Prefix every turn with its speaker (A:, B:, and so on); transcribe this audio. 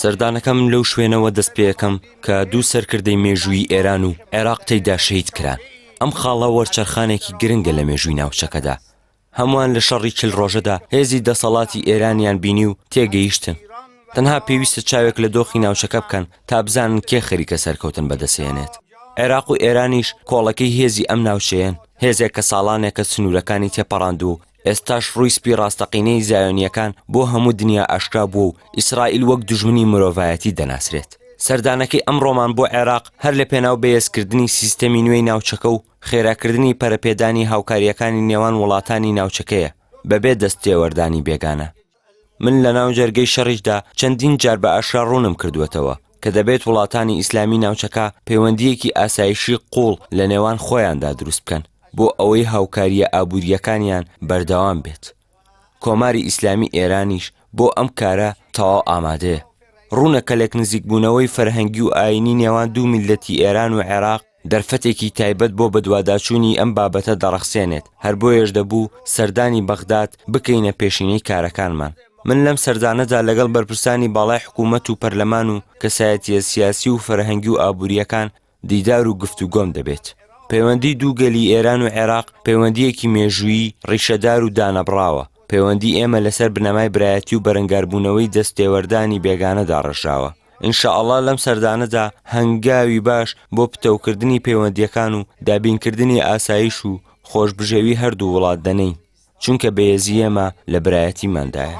A: سەردانەکەم لەو
B: شوێنەوە دەست پێەکەم کە دوو سەرکردەی مێژووی ئێران و عێراق تێیدا شەید کران ئەم خاڵە وەرچەرخانێکی گرنگە لە مێژووی ناوچەکەدا هەمووان لە شەڕی چل ڕۆژەدا هێزی دەسەڵاتی ئێرانیان بینی و تێگەیشتن تەنها پێویستە چاوێک لە دۆخی ناوچەکە بکەن تا بزانن کێ خەریکە سەرکەوتن بەدەسێنێت عێراق و ئێرانیش کۆڵەکەی هێزی ئەم ناوچەیەن هێزێک کە ساڵانێکە سنوورەکانی تێپەڕاندوو ئێستاش ڕووی سپی ڕاستەقینەی زایۆنییەکان بۆ هەموو دنیا ئاشکرا بووە و ئیسرائیل وەک دوژمنی مرۆڤایەتی دەناسرێت. سەردانەکەی ئەمڕۆمان بۆ عێراق هەر لە پێناو بەهێزکردنی سیستەمی نوێی ناوچەکە و خێراکردنی پەرەپێدانی هاوکارییەکانی نێوان وڵاتانی ناوچەکەیە بەبێ دەستتێوەردانی بێگانە. من لە ناو جەرگەی شەڕیشدا چەندین جار بە ئاشکرا ڕوونم کردووەتەوە کە دەبێت وڵاتانی ئیسلامی ناوچەکە پەیوەندییەکی ئاسایشی قووڵ لە نێوان خۆیاندا دروست بکەن بۆ ئەوەی هاوکارییە ئابوورییەکانیان بەردەوام بێت. کۆماری ئیسلامی ئێرانیش بۆ ئەم کارە تەواو ئامادەیە. ڕوونە کە لێکنزیکبوونەوەی فەرهەنگی و ئایینی نێوان دوو میللەتی ئێران و عێراق، دەرفەتێکی تایبەت بۆ بەدواداچوونی ئەم بابەتە دەڕەخسێنێت، هەر بۆیەش دەبوو سەردانی بەغداد بکەینە پێشینەی کارەکانمان. من لەم سەردانەدا لەگەڵ بەرپرسانی باڵای حکوومەت و پەرلەمان و کەسایەتییە سیاسی و فەرهەنگی و ئابوورییەکان دیدار و گفتوگۆم دەبێت. پەیوەندیی دوو گەلی ئێران و عێراق پەیوەندییەکی مێژوویی، ڕیشەدار و دانەبڕاوە. پەیوەندیی ئێمە لەسەر بنەمای برایەتی و بەرەنگاربوونەوەی دەستتێوەردانی بێگانە داڕێژراوە. ان شاء اللە لەم سەردانەدا هەنگاوی باش بۆ پتەوکردنی پەیوەندییەکان و دابینکردنی ئاسایش و خۆشبژێوی هەردوو وڵات دەنێین، چونکە بەێزی ئێمە لە برایەتیماندایە.